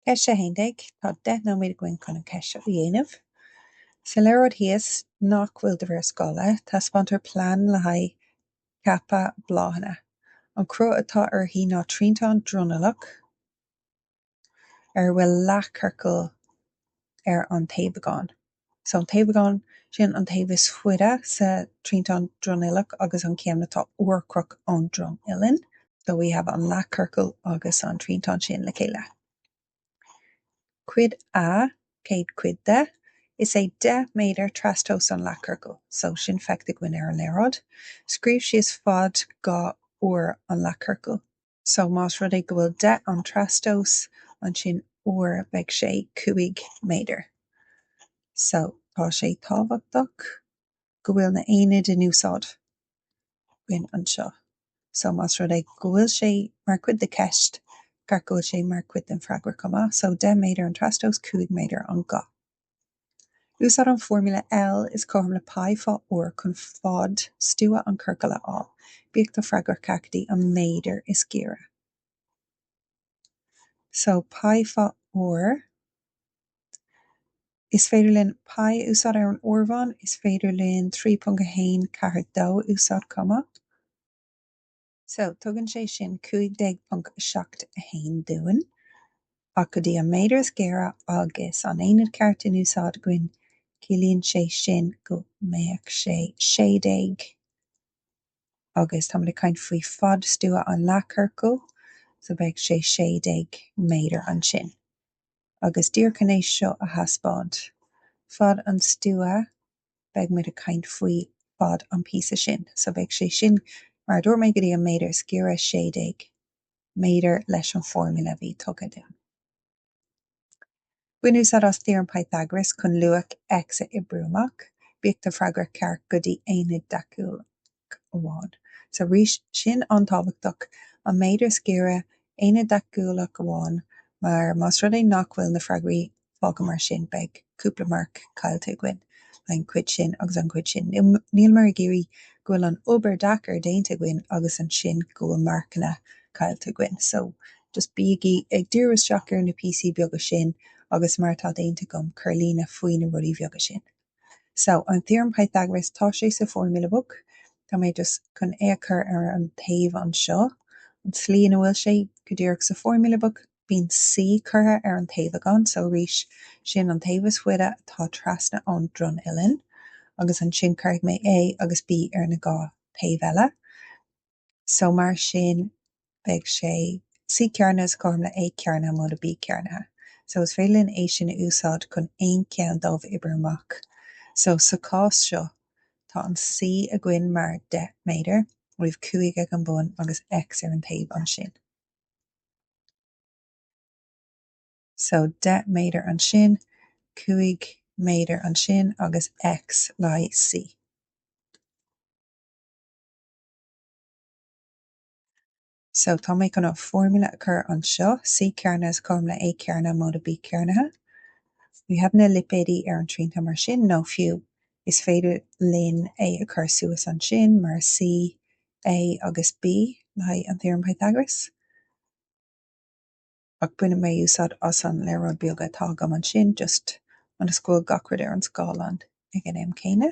Ceist 11, Tá deich nóiméad againn chun an cheist seo a dhéanamh. Sa léaráid thíos, nach bhfuil de réir scála, taispeántar plean le haghaidh ceapa bláthanna. An cruth atá uirthi ná triantán dronuilleach ar a bhfuil leathchiorcal ar an taobhagán. So an taobhagán sin, an taobh is faide sa triantán dronuilleach agus an ceann atá urchomhaireach ón dronuillinn, so we have an leathchiorcal agus an triantán sin le chéile. Cuid A, céad cuid de, is é 10 méadar trastomhas an leathchiorcal, so sin feicthe againn ar an léaráid. Scríobh síos fad ga r an leathchiorcail. So, más rud é go bhfuil deich an trastomhas, ansin r beidh sé cúig méadar. So, tá sé tábhachtach go bhfuil na aonaid in úsáid againn anseo. So, más rud é go bhfuil sé mar chuid de cheist, ceart go bhfuil sé mar chuid den freagra chomh maith. So, deich méadar an trastomhas, cúig méadar an ga. Úsáid an foirmle L is cothrom le π fá r chun fad stua an chiorcail a fháil, bíodh do freagra ceart go dtí an méadar is gaire. So π fá r. Is féidir linn π a úsáid ar an áireamhán, is féidir linn 3.142 a úsáid chomh maith. So, tugann sé sin 15.71 dúinn, ach go dtí an méadar is gaire agus an aonad ceart in úsáid againn, ciallaíonn sé sin go mbeadh sé sé déag, agus tá muid ag caint faoi fad stua an leathchiorcail, so beidh sé sé déag méadar ansin. Agus díreach chun é seo a thaispeáint, fad an stua beidh muid ag caint faoi fad an píosa sin so beidh sé sin mar a dúirt mé go dtí an méadar is gaire 16 méadar leis an foirmle a bhí tugtha dúinn. Bain úsáid as Theorem Pythagoras chun luach X a oibriú amach. Bíodh do freagra ceart go dtí ionad deachúil. amháin. So arís sin an-tábhachtach, an méadar is gaire, ionad deachúlach amháin, mar más rud é nach bhfuil na freagraí fágtha mar sin, beidh cúpla marc caillte againn, an chuid sin agus an chuid sin. Níleamar ag iarraidh go bhfuil an obair deacair déanta againn agus ansin go bhfuil marcanna caillte againn. So, just bígí ag díriú isteach ar na píosaí beaga sin agus mar atá déanta agam, cuir líne faoi na rudaí bheaga sin. So, an theorem Pythagoras, tá sé sa Formula Book, tá mé just chun é a chur ar an taobh anseo, an tslí ina bhfuil sé go díreach sa Formula Book, bíonn C curtha ar an taobhagán, so arís, sin an taobh is faide atá trasna ón dronuillinn, agus ansin cuirfidh mé A agus B ar na dhá thaobh eile. so mar sin beidh sé C cearnaithe is cothrom le A cearnaithe móide B cearnaithe. So is féidir linn é sin a úsáid chun aon cheann dóibh a oibriú amach. So sa chás seo tá an C againn mar 10 méadar, we have 5 ag an bun agus X ar an taobh ansin. So 10 méadar ansin, 5 méadar ansin agus X le haghaidh B. So tá mé chun an formula a chur anseo, C cearnaithe is cothrom le A cearnaithe móide B cearnaithe. We have na lipéidí ar an triantán mar sin, nó fiú, is féidir linn é a chur suas ansin mar C, A agus B le haghaidh an Theorem Pythagoras. Ach baineann mé úsáid as an léaráid beaga atá agam ansin, just ionas go bhfuil gach rud ar an scáileán ag an am céanna.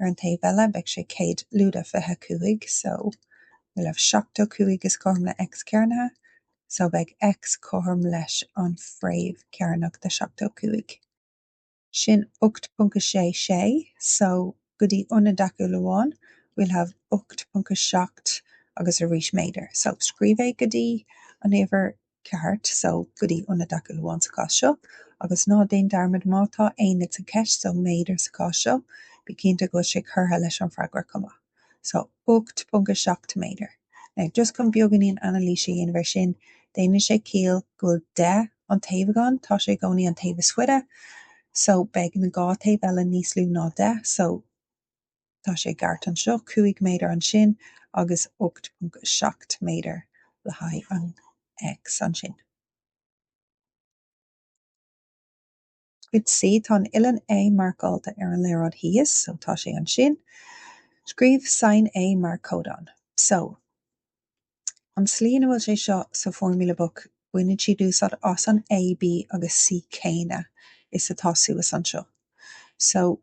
Ar an taobh eile, beidh sé céad lúide fiche a cúig so we'll have seachtó cúig is cothrom le X cearnaithe, so beidh X cothrom leis an fréamh cearnach de sheachtó cúig. Sin ocht ponc a sé sé, so go dtí ionad deachúlach amháin we'll have ocht ponc a seacht agus arís méadar. So scríobh é go dtí an uimhir ceart so go dtí ionad deachúlach amháin sa chás seo, agus ná déan dearmad, má tá aonad sa cheist so, méadar sa chás seo, bí cinnte go bhfuil sé curtha leis an bhfreagra chomh maith. So 8.7 méadar. Now, just chun beagáinín anailís a dhéanamh ar sin, déanann sé ciall go bhfuil deich an taobhagán, tá sé i gcónaí an taobh is faide, so beidh na dhá taobh eile níos lú ná deich, so, Tá sé i gceart anseo, 5 méadar ansin agus 8.7 méadar le haghaidh an X ansin. Cuid C, tá an uillinn A marcáilte ar an léaráid thíos, so tá sé ansin. Scríobh sain A mar codán. So, an tslí ina bhfuil sé seo sa Formula Book, baineann siad úsáid as an A, B agus C céanna is atá suas anseo. So.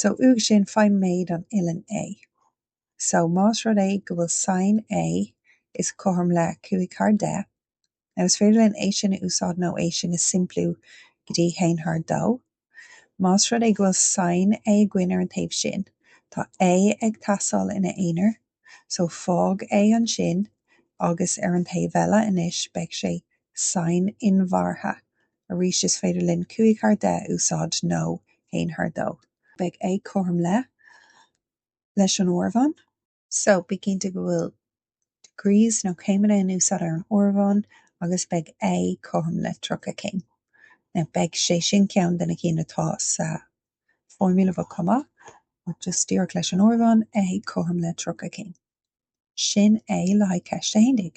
so uaidh sin faigh méid an uillinn A. So más rud é go bhfuil sain A is cothrom le 5 thar 10, now is féidir linn é sin a úsáid nó é sin a shimpliú go dtí 1 thar 2. Más rud é go bhfuil sain A againn ar an taobh sin, tá A ag teastáil ina aonar, So fág A ansin agus ar an taobh eile anois beidh sé sain inbhéarta. Arís is féidir linn cúig thar deich a úsáid nó haon thar dó. Beidh A cothrom le leis an áireamhán. So bí cinnte go bhfuil degrees nó céimeanna in úsáid ar an áireamhán agus beidh A cothrom le tríocha céim. Now beidh sé sin ceann de na cinn atá sa foirmle bheag chomh maith, ach just díreach leis an ardhán, é cothrom le tríocha cinn. Sin é le haghaidh ceist a haon déag.